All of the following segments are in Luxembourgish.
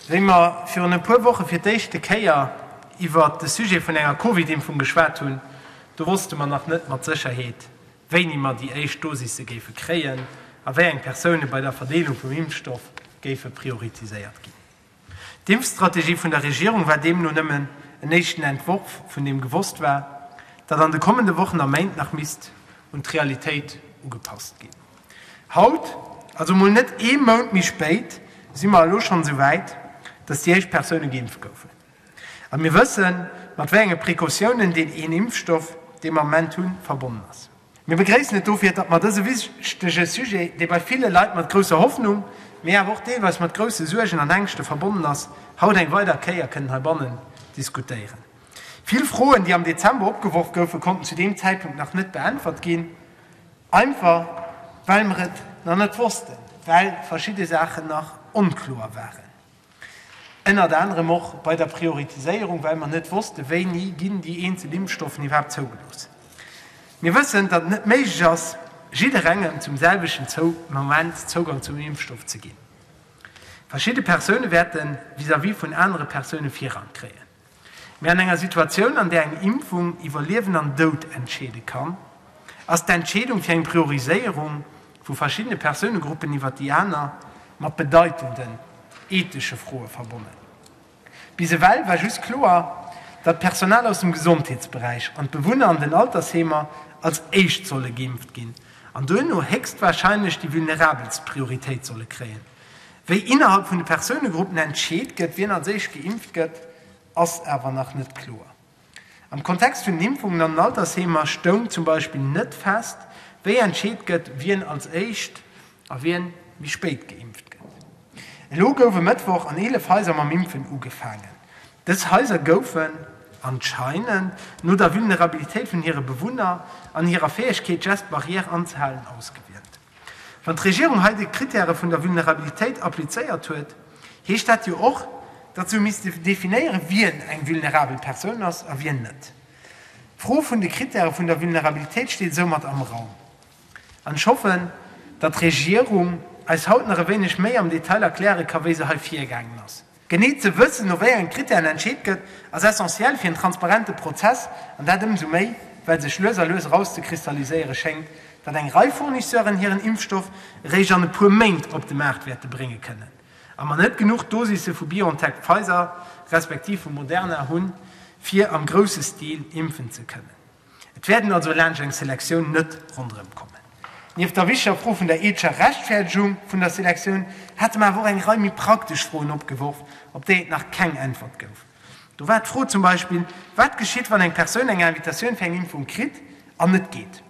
Wéi mer virun e puer Woche fir d'éischte Kéier iwwert de Sujet vun enger Covid-Impfung geschwat hunn, do wosste mer nach net mat Sécherheet, wéini mer déi éischt Dosisse géife kréien a wéi eng Persoune bei der Verdeelung vum Impfstoff géife prioritiséiert ginn. D'Impfstrategie vun der Regierung war deemno nëmmen en éischten Entworf vun deem gewosst war, dat an de kommende Wochen a Méint nach misst un d'Realitéit ugepasst ginn. Haut, also mol net ee Mount méi spéit, si mer elo schonn esou wäit, dass déi éischt Persoune geimpft goufen. A mir wëssen, mat wéi enge Precautiounen deen een Impfstoff, dee mer am Moment hunn, verbonnen ass. Mir begréissen et dofir, datt mer dëse wichtege Sujet, dee bei ville Leit mat grousser Hoffnung, mee awer och deelweis mat grousse Suergen an Ängschte verbonnen ass, haut eng weider Kéier kënnen heibannen diskutéieren. Vill Froen, déi am Dezember opgeworf goufen, konnten zu deem Zäitpunkt nach net beäntwert ginn. Einfach well mer et nach net wossten, well verschidde Saachen nach onkloer waren. Ënnert anerem och bei der Prioritiséierung, well mer net wossten, wéini ginn déi eenzel Impfstoffen iwwerhaapt zougelooss. Mir wëssen, datt et net méiglech ass, jidderengem zum selwechten Moment Zougang zum Impfstoff ze ginn. Verschidde Persoune wäerte vis-à-vis vun anere Persoune Virrang kréien. Mee an enger Situatioun, an där eng Impfung iwwer Liewen an Doud entscheede kann, ass d'Entscheedung fir eng Prioriséierung vu verschiddene Persounegruppen iwwer déi aner mat bedeitenden ethesche Froe verbonnen. Bis ewell war just kloer, datt d'Personal aus dem Gesondheetsberäich an d'Bewunner an den Altersheemer als éischt solle geimpft ginn an duerno héchstwarscheinlech déi Vulnerabelst Prioritéit solle kréien. Wéi innerhalb vun de Persounegruppen entscheet gëtt, wien als éischt geimpft gëtt, ass awer nach net kloer. Am Kontext vun den Impfungen an den Altersheemer stoung zum Beispill net fest, wéi entscheet gëtt, wien als éischt a wien méi spéit geimpft gëtt. Elo gouf e Mëttwoch an 11 Haiser mam Impfen ugefaangen. Dës Haiser goufen anscheinend no der Vulnerabilitéit vun hire Bewunner an hirer Fäegkeet, Geste barrière anzehalen, ausgewielt. Wann d'Regierung hei déi Krittäre vun der Vulnerabilitéit applizéiert huet, heescht dat jo och, datt se hu misste definéieren, wien eng vulnerabel Persoun ass a wien net. D'Fro vun de Krittäre vun der Vulnerabilitéit steet soumat am Raum. An ech hoffen, datt d'Regierung eis haut nach e wéineg méi am Detail erkläre ka wéi se hei virgaangen ass. Genee ze wëssen, no wéi enge Krittären entscheet gëtt, ass essentiell fir en transparente Prozess, an dat ëmsou méi, well sech lues a lues erauszekristalliséiere schéngt, datt eng Rei Fournisseuren hiren Impfstoff eréischt an e puer Méint op de Maart wäerte brénge kënnen a mer net genuch Dosisse vu BioNTech-Pfizer respektiv vu Moderna hunn, fir am grousse Stil impfen ze kënnen. Et wäerten also laanscht eng Selektioun net ronderëm kommen. Nieft der wichtiger Fro vun der eethescher Rechtfäerdegung vun der Selektioun hate mer awer och eng Rei méi praktesch Froen opgeworf, op déi et nach keng Äntwert gouf. Do war d'Fro zum Beispill, Wat geschitt, wann eng Persoun eng Invitatioun fir eng Impfung kritt an net geet?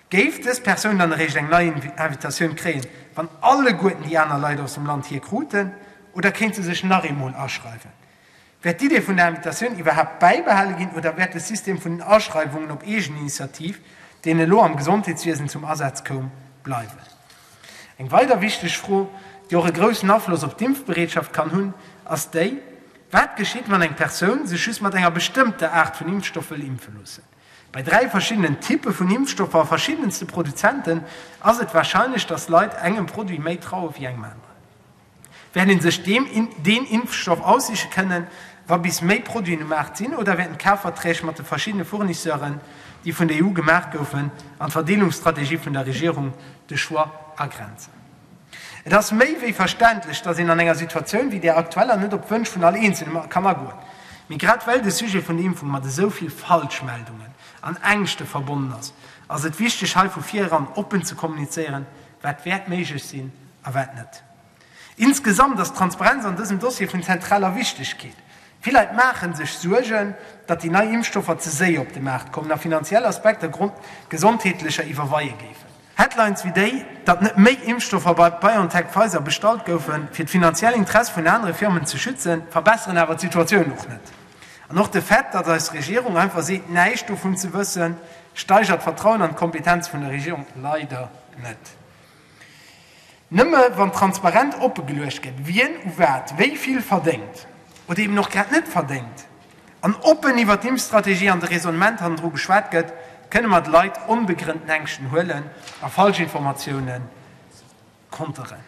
Géif dës Persoun dann eréischt eng nei Invitatioun kréien, wann alleguerten déi aner Leit aus dem Land hir kruten, oder kéint se sech nach eemol aschreiwen? Wäert d'Idee vun der Invitatioun iwwerhaapt bäibehale ginn oder wäert de System vun den Aschreiwungen op Eegeninitiativ, deen elo am Gesondheetswiesen zum Asaz koum, bleiwen? Eng weider wichteg Fro, déi och e groussen Afloss op d'Impfbereetschaft kann hunn, ass déi, Wat geschitt, wann eng Persoun sech just mat enger bestëmmter Aart vun Impfstoff wëll impfe loossen? Bei dräi verschiddenen Typpe vun Impfstoffer a verschiddenste Produzenten ass et warscheinlech, datt Leit engem Produit méi traue wéi engem aneren. Wäert ee sech deen Impfstoff aussiche kënnen, wa bis méi Produiten um Maart sinn, oder wäerten d'Kafverträg mat de verschiddene Fournisseuren, déi vun der EU gemaach goufen, an d'Verdeelungsstrategie vun der Regierung de Choix agrenzen? Et ass méi wéi verständlech, datt een an enger Situatioun wéi där aktueller net op d'Wënsch vun all Eenzelem kann agoen. Mee grad well de Sujet vun der Impfung mat esou vill Falschmeldungen an Ängschte verbonnen ass, ass et wichteg hei vu vir eran oppen ze kommunizéieren, Wat wäert méiglech sinn a wat net? Insgesamt ass d'Transparenz an dësem Dossier vun zentraler Wichtegkeet. Vill Leit maache sech Suergen, datt déi nei Impfstoffer ze séier op de Maart kommen a finanziell Aspekter Grond gesondheetlecher iwwerweie géifen. Headlines wéi déi, datt net méi Impfstoffer bei BioNTech-Pfizer bestallt goufen, fir d'finanziell Interesse vun anere Firmen ze schützen, verbesseren awer d'Situatioun och net. An och de Fait, datt eis Regierung einfach seet, näischt dovun ze wëssen, steigert d'Vertrauen an d'Kompetenz vun der Regierung leider net. Nëmme wann transparent oppegeluecht gëtt, wien u wat wéi vill verdéngt, oder eben och grad net verdéngt, an oppen iwwer d'Impfstrategie an de Raisonnement hannendru geschwat gëtt, kënne mer de Leit onbegrënnten Ängschten huelen a falsch Informatiounen Konteren.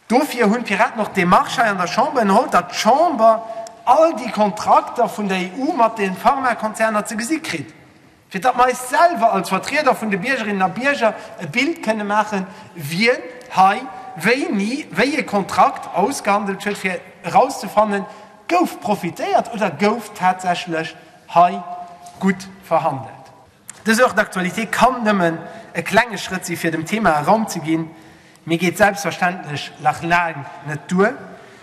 Dofir hunn d'Piraten och d'Demarche hei an der Chamber ënnerholl, datt d'Chamber all déi Kontrakter vun der EU mat de Pharmakonzerner ze gesi kritt, fir datt mer eis selwer als Vertrieder vun de Biergerinnen a Bierger e Bild kënne maachen, wien hei wéini wéi ee Kontrakt ausgehandelt huet, fir erauszefannen, Gouf profitéiert oder gouf tatsächlech hei gutt verhandelt? Dës Heure d'actualité kann nëmmen e klenge Schrëtt si fir dem Thema e Raum ze ginn, mee geet selbstverständlech nach laang net duer.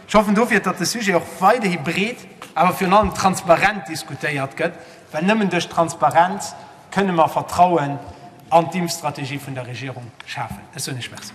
Ech hoffen dofir, datt de Sujet och weiderhi breet, awer virun allem transparent diskutéiert gëtt, well nëmmen duerch Transparenz kënne mer Vertrauen an d'Impfstrategie vun der Regierung schafen. Ech soen Iech Merci.